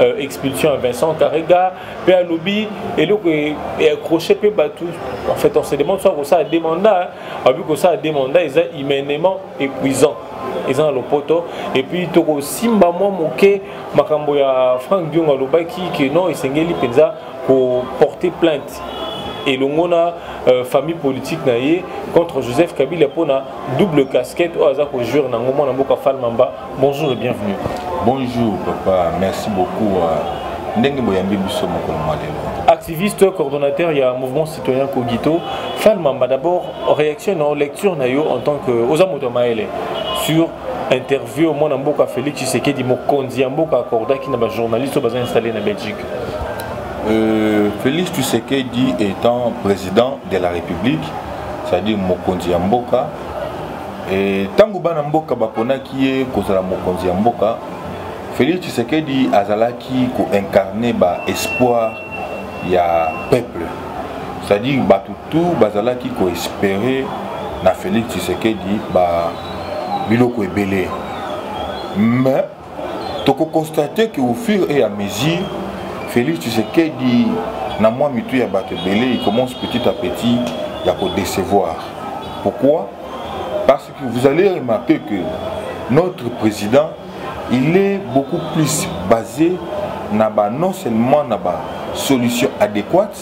euh, expulsion ya vincent karega mpe alobi eloko eaccroche mpe bato en fait on se demande soit kosala de mandat alobi kosala de mandat eza humainement épuisant eza na lopoto epuis tokosimba mwa moke makambo ya frank diongo alobaki ke non esengeli mpenza koporte plainte elongo na euh, famille politique na ye contre joseph kabila mpona double casquette oyo aza kojouire nango mwana mboka falmamba Bonjour et bienvenue. Bonjour papa, merci beaucoup. Euh, ndenge boyambi biso mokolo mwa lelo activiste coordonnateur il y a mouvement citoyen cogito fal mamba d'abord réaction na lecture na yo en tant que oza moto maele sur interview mwana mboka félix tshisekedi mokonzi ya mboka akordaki na bajournaliste oyo baza installé na belgique euh, félix tshisekedi étant président de la république c'est-à-dire mokonzi ya mboka Ntango eh, bana mboka baponaki ye kozala mokonzi ya mboka, Felix Tshisekedi azalaki koincarne ba espoir ya peuple c'est-à-dire bato tout bazalaki koespere na Felix Tshisekedi ba biloko ebele mais toko constate que au fur et à mesure Félix Tshisekedi na mwa mitu ya bato ebele il commence petit à petit ya ko décevoir pourquoi parce que vous allez remarquer que notre président il est beaucoup plus basé na ba non seulement na ba solution adéquate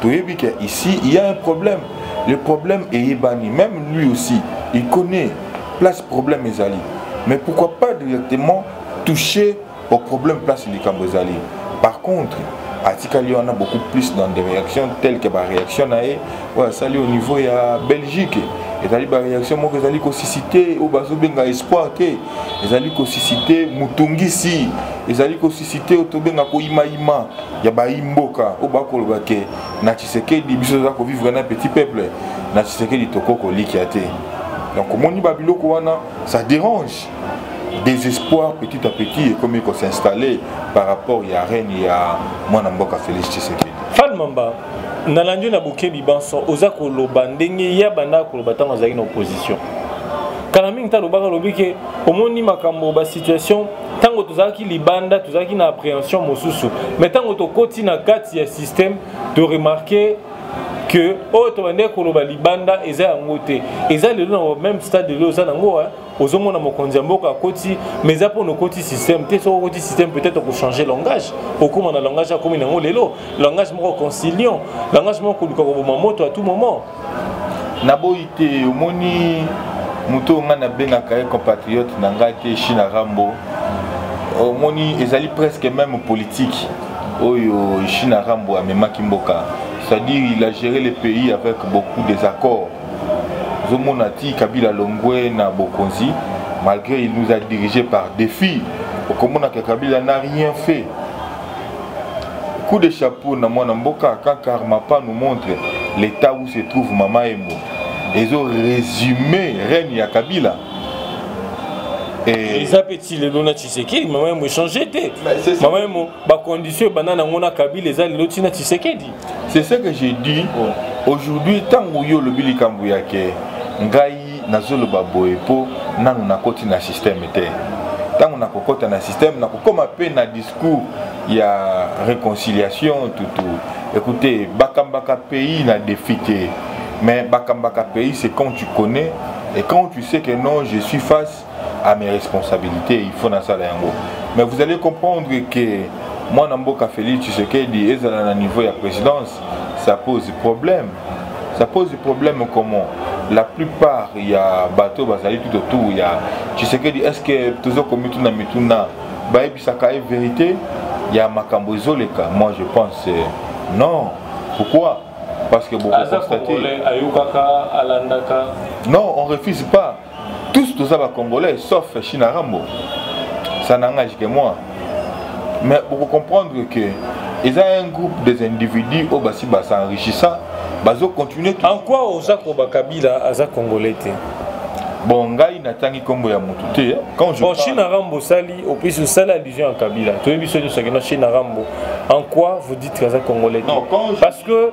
toyebi que ici il y a un problème le problème eyebani même lui aussi il connaît place problème ezali mais pourquoi pas directement toucher au problème place likambo ezali par contre atikali wana beaucoup plus dans des réactions telles que baréaction na ye oyo asali au niveau ya belgique ezali baréaction moko ezali kosisite oyo bazobenga espoir te ezali kosisite motungisi ezali kosisite oyo tobenga koyimayima ya bayimboka oyo bakoloba ke na tshisekedi biso toza kovivre na petit peuple na tshisekedi toko kolikia te donc omoni babiloko wana ça dérange désespoir petit à petit ekomi kosinstalle par rapport ya règne ya mwana mboka félix tshisekedi nalandi na bokebi banso oza koloba ndenge ye abandaka koloba ntango azalaki na opposition kala mingi ntango alobaka alobi ke omoni makambo basituation ntango tozalaki libanda tozalaki na appréhension mosusu mais ntango tokoti na kati ya système toremarke que oyo tobandaki koloba libanda eza yango te eza lelo na meme stade lelo oza nango ozomona mokonzi ya mboka akoti mais eza mpo nokoti système te soki okoti système peut-être okochange langage okóma na langage akomi nango lelo langage moko conciliant langage moko koluka koboma moto à tout moment naboyi te omoni moto oyo ngai nabengaka ye compatriote na ngai te china rambo omoni ezali presque même politique oyo china rambo amemaki mboka c'est-à-dire il a géré le pays avec beaucoup des accords ozomona ti kabila longwe na bokonzi malgré il nous a dirigé par défi okomonaka kabila na rien fait coup de chapeau na mwana mboka quand karmapa nous montre l'état où se trouve mama embo ezo résume règne ya kabila eza mpe ti lelo na tshisekedi mama yemo echange te mama yemo bacondition ebanda nango na kabila eza lelo ntina tshisekedi c'est ce que j'ai dit aujourd'hui ntango yo olobi likambo ya ke ngai nazoloba boye mpo nanu nakoti na systeme te ntango nakokɔta na systeme nakokóma mpe na discours ya réconciliation tutu écoutez bakambaka pays na défi te mais bakambaka pays c'est quand tu connais et quand tu sais que non je suis face à mes responsabilités il faut nasala yango mais vous allez comprendre que mwana mboka félix tshisekedi ezala na niveau ya présidence ça pose problème ça pose problème comment la plupart ya bato bazali tout autour ya tshisekedi est ce que tozokomi tuna mituna bayebisaka ye vérité ya makambo ezoleka moi je pense euh, non pourquoi parce que bokokonstate ayokaka alandaka non on refuse pas tous toza ba congolais sauf china rambo ça n'engage que moi mais vous comprendre que eza un groupe des individus oyo basi basenrichissa bazo continue en quoi oza koba kabila aza congolais te bon ngai natangi nkombo ya motu te bon parle... chine arambo osali opesi osali allusion ya kabila toyebi so nyonso akenda chine arambo en quoi vous dites aza congolais te parce que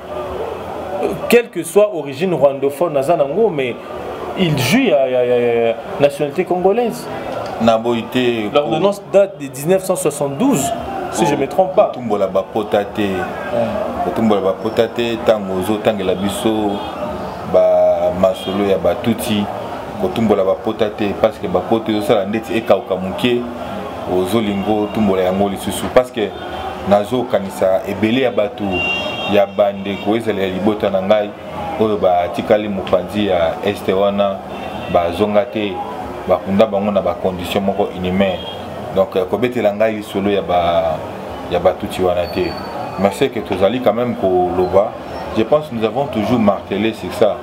quelle que soit origine rwandophone aza nango mais il joue ya, ya, ya, ya nationalité congolaise na boyi te l'ordonnance date de 1972 si je me trompe pas kotumbola bapota te kotumbola bapota te ntango ozotangela biso bamasolo ya batuti kotumbola bapota te parce que bapota ezosala ndeti ekauka moke ozolingo otumbola yango lisusu parce que nazokanisa ebele ya bato ya bandeko ezala ya libota na ngai oyo batikali mopanzi ya este wana bazonga te bakunda bango na bacondition moko inhumain donc euh, kobetela ngai lisolo ya ba ya batuti wana te mais c'est que tozali quand même koloba je pense nous avons toujours martelé sur ça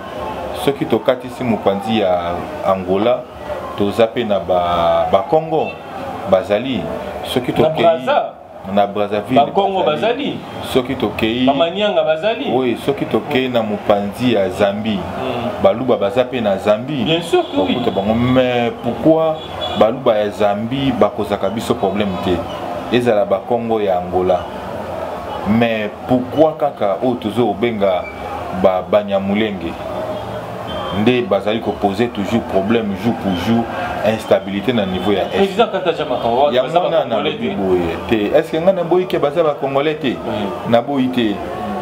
soki tokatisi mopanzi ya angola toza mpe na bakongo ba bazali soki tokei na brazzaville bakongo bazali soki tokei bamanianga bazali oui soki tokei na mopanzi ya zambie mm. baluba baza mpe na zambie bien sûr que oui bango mais pourquoi baluba ya zambie bakozaka biso problème te ezala bakongo ya angola mais pourquoi kaka oyo tozo obenga ba banyamulenge nde bazali ko poser toujours problème jour pour jour instabilité na niveau ya est yango wana nalobi boye te est ce que ngai naboyi ke baza bacongolais te mm. naboyi te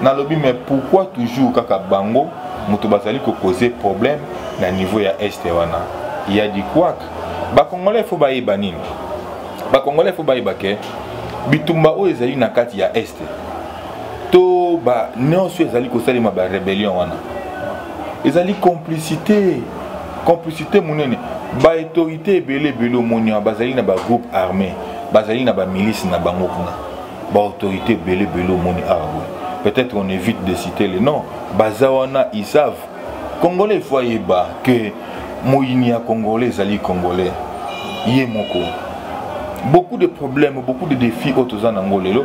nalobi mais pourquoi toujours kaka bango moto bazali ko causer problème na niveau ya est wana ya di quak bacongolais fo bayeba nini bacongolais fo bayeba ke bitumba oyo ezali na kati ya este to ba nyonso ezali kosalema ba rébellion wana ezali complicité complicité monene ba autorité ebele ebele omoni wana bazali na ba groupe armé bazali na ba milice na bango kuna ba autorité ebele ebele omoni awa ah boye peut-être on évite de citer le nom baza wana ils savent congolais faut ayeba que moyini ya congolais ezali congolais ye moko beaucoup de problèmes beaucoup de défis oyo toza na yango lelo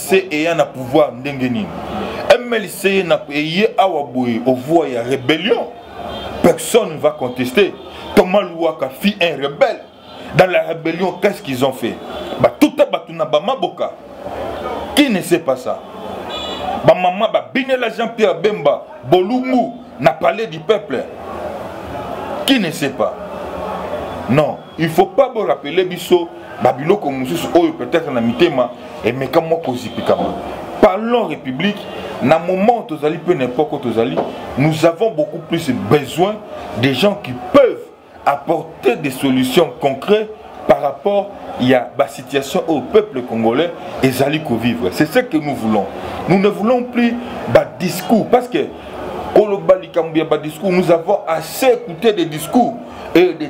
se eya na pouvoir ndenge nini mlc eye awa boye ovua ya rébellion personne va contester thomas luwaka fit un rebelle dans la rébellion qu'est ce qu'ils ont fait batuta bato na bamaboka qui ne sait pas ça bamama babinela jean pierre bemba bolumbu na palais du peuple qui ne sait pas non il faut pas bo rappeler biso ba biloko mosusu oyo peut-être na mitema emeka mwa kozipikama parlons république na moment tozali mpe na epoque oyo tozali nous avons beaucoup plus besoin des gens qui peuvent apporter des solutions concrètes par rapport ya basituation oyo peuple congolais ezali kovivre c'est ce que nous voulons nous ne voulons plus badiscours parce que koloba likambo ya badiscours nous avons assez écouté des discours et des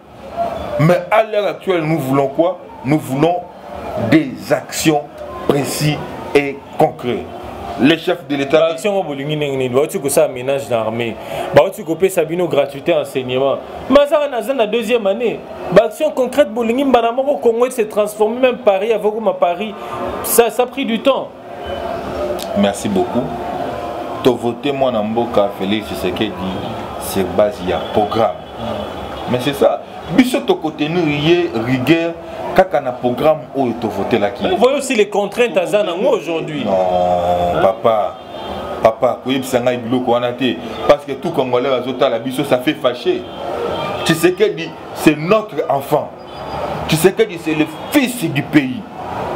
Mais à l'heure actuelle, nous voulons quoi Nous voulons des actions précises et concrètes. les chefs de l'état action oyo bolingi ndenge nini bauti kosala ménage na armée bauti kopesa bino gratuité enseignement mazaka naza na deuxième année baaction concrète bolingi mbala moko congo se transforme même paris avokoma paris ça, ça pris du temps merci beaucoup tovote mwana mboka félix tshisekedi sur base ya programme mais c'est ça biso tokotenir ye rigueur kaka na programme oyo tovotelaki voyez aussi les contraintes aza nango aujourd'hui non papa papa koyebisa ngai biloko wana te parce que tout congolais bazotala biso ça fait fâché tshisekedi c'est notre enfant Tshisekedi c'est le fils du pays.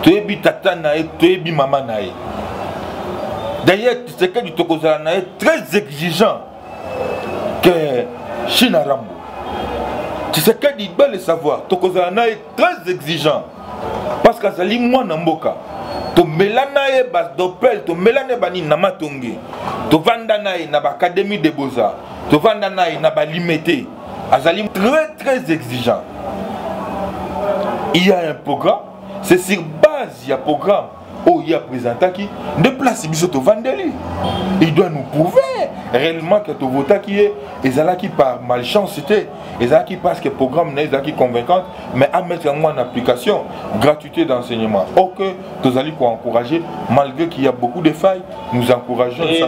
Toyebi tata na ye, toyebi mama na ye. D'ailleurs, Tshisekedi tokozala na ye très exigeant que Chine Rambo. Tshisekedi doit le savoir, tokozala na ye très exigeant parce qu'azali mwana mboka. tomela na ye badopel tomela na ye banini na matonge tovanda na ye na baacadémie de beaux-arts tovanda na ye na balimete azali très très exigeant il y a un programme c'est sur base ya programme oyo ye apresentaki nde place biso tovandeli il doit nous prouver réellement que tovotaki ye ezalaki par malchance te ezalaki parce que programme na ye ezalaki convaincante mais amettre yango en application gratuité d'enseignement ok tozali koencourage malgré qu'il y a beaucoup de failles nous encourageons eza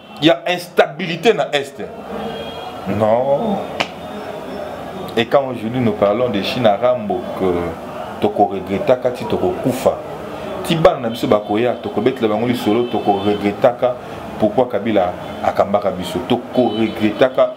Il y a instabilité dans l'Est. Non. Et quand aujourd'hui nous parlons de Chine à Rambo, que toko regrettaka ti toko kufa. Ti bana na biso bakoya toko betela bango lisolo toko regrettaka pourquoi Kabila akambaka biso toko regrettaka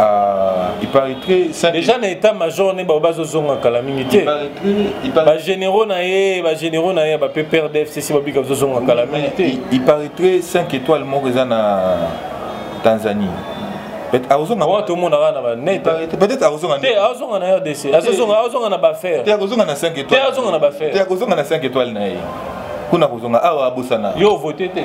Ah, il paraîtrait ça déjà na état major ne ba bazo zonga kala mingi te ba généraux na ye ba généraux na ye ba PPR DFCC ba bika bazo zonga kala mingi te il paraîtrait 5 étoiles moko eza na Tanzanie akozonga wana tomonaka na banetpeutêtre akozonga te azonga na rdc azonga na bafaire te akozonga na 5 étoile te azonga na bafaire te akozonga na 5 étoile na ye kuna akozonga awa abosana yo vote te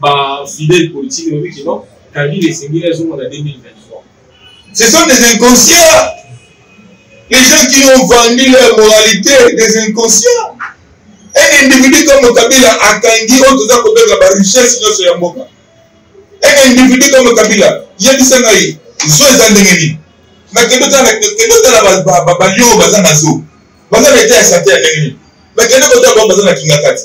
ba fidèle politique lobi que non kabila esengeli azonga na 2023 ce sont des inconscients les gens qui ont vendu leur moralité des inconscients un individu comme kabila akangi oyo toza kobenga ba richesse nyonso ya mboka un individu comme kabila yebisa ngai zo eza ndenge nini nakende otala balio baza na zo baza na eta ya sante ya ndenge nini nakende kotala bango baza na kingakati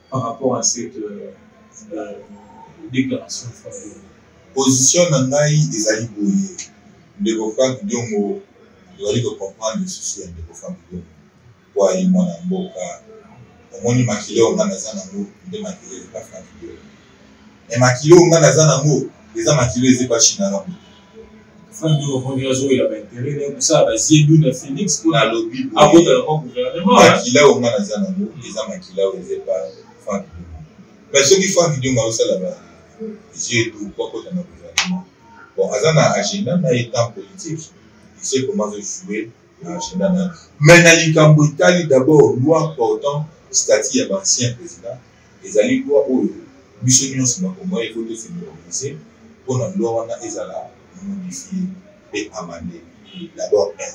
par rapport à cette euh, euh, déclaration position na ngai ezali boye ndeko frank diongo tozali kocomprendre susi ya ndeko frank diongo po ayi mwana mboka omoni makila oyo ngai naza nango nde makila epa frank diongo e makilo oyo ngai naza nango eza makilo ezepa china na moto makila oyo ngai naza nango eza makila oyo ezepa frank me soki frank dionga osala ba yeux etu po akota na gouvernement bon aza na agenda na ye temps politique il sait comment joue mais na likambo etali d'abord loi portant statut ya baancien président ezali loi oyo biso nyonso bakongoi eko tofinolise mpo na loi wana ezala modifie mpe amande d'abord un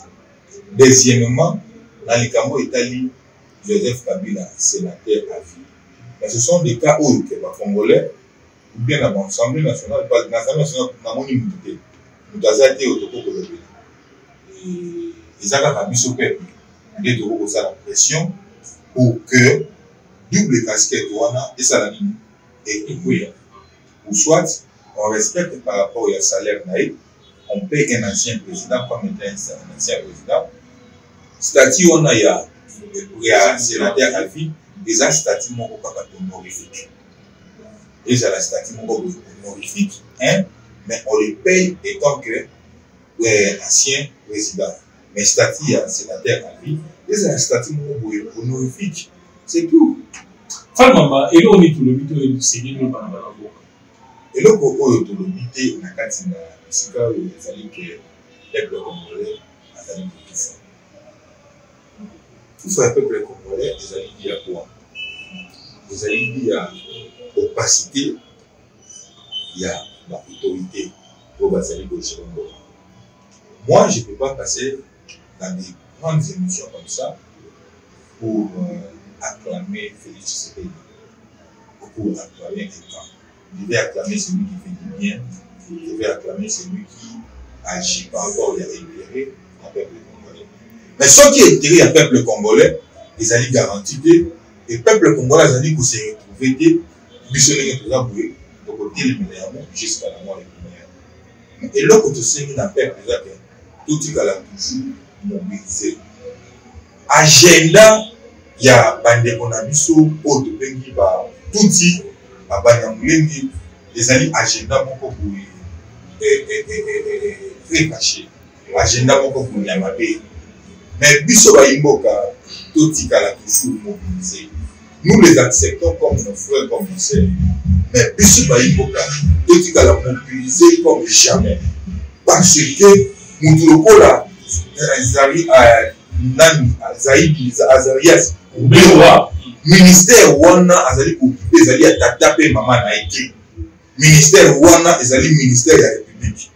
deuxièmement na likambo etali joseph kabila sénateur à vie mais ce sont des cas oyo ke bacongolais oubien na ba assemblée nationale na assemblée nationale namoni moto te moto aza te oyo tokoki kolobela eza kaka biso peuple nde tokoki kosala pression pour que double casquette wana esala nini etokuya ou soit on respecte par rapport ya salaire na ye on paye un ancien président comme étant un ancien président statut wana ya ya sénateur avis eza statut moko kaka honorifique ezala statut moko boye honorifique hein mais on le paye étant que euh, ancien président mais statut ya sénateur na vie ezala statut moko boye honorifique c'est tout famama eloko nini tolobi to esengeli olobana bana mboka eloko oyo tolobi te na kati na esika oyo ezali ke peuple congolais azali kokufa kufa ya peuple congolais ezali di ya bwa ezali di ya opacité ya ba autorité oyo bazali kogere mbongo moi je peux pas passer dans des grandes émissions comme ça pour euh, acclamer félix tshisekedi pour acclamer quelqu'un je vais acclamer celui qui fait du bien je vais acclamer celui qui agit par rapport ya intérêt ya peuple congolais mais soki intérêt ya peuple congolais ezali garanti te e peuple congolais azali kose retrouve te biso ndenge toza boye tokotelemela yango jusqu'à la mort eloko tosengi na peuple eza te totikala toujours mobilise agenda ya bandeko na biso oyo tobengi batuti babanyamulenge ezali agenda moko boye eh, eh, eh, très caché agenda moko boye ya mabe mais biso bayimboka totikala toujours mobilise nous les acceptons comme nos frères comme nos sœurs mais biso bayimboka totikala mobilise comme jamais parce que motu lokola azali nani azali azarias obewa ministère wana azali kokipe ezali ya tata mpe mama na ye te ministère wana ezali ministère ya république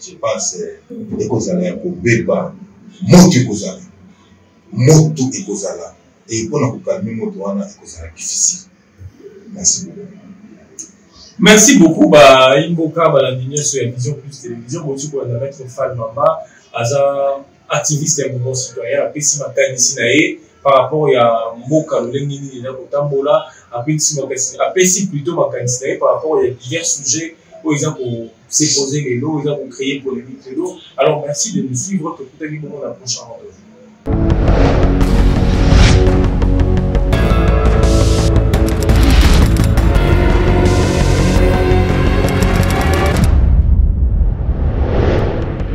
je pense euh, ekozala ya kobeba moto ekozala moto ekozala eye mpona kokalme moto wana ekozala difficile merci beaucoup merci beaucoup baimboka balandi nyonso ya vision plus télévision bosuku azalaki fal mama aza activiste ya mouvement citoyen apesi makanisi na ye par rapport ya mboka lolenge nini na kotambola apesi makanisi apesi plutôt makanisi na ye par rapport ya divers sujet oyo eza kosepose lelo eza kocreye polémique lelo alors merci de nous suivre tokutaki bongo na prochain rendez-vous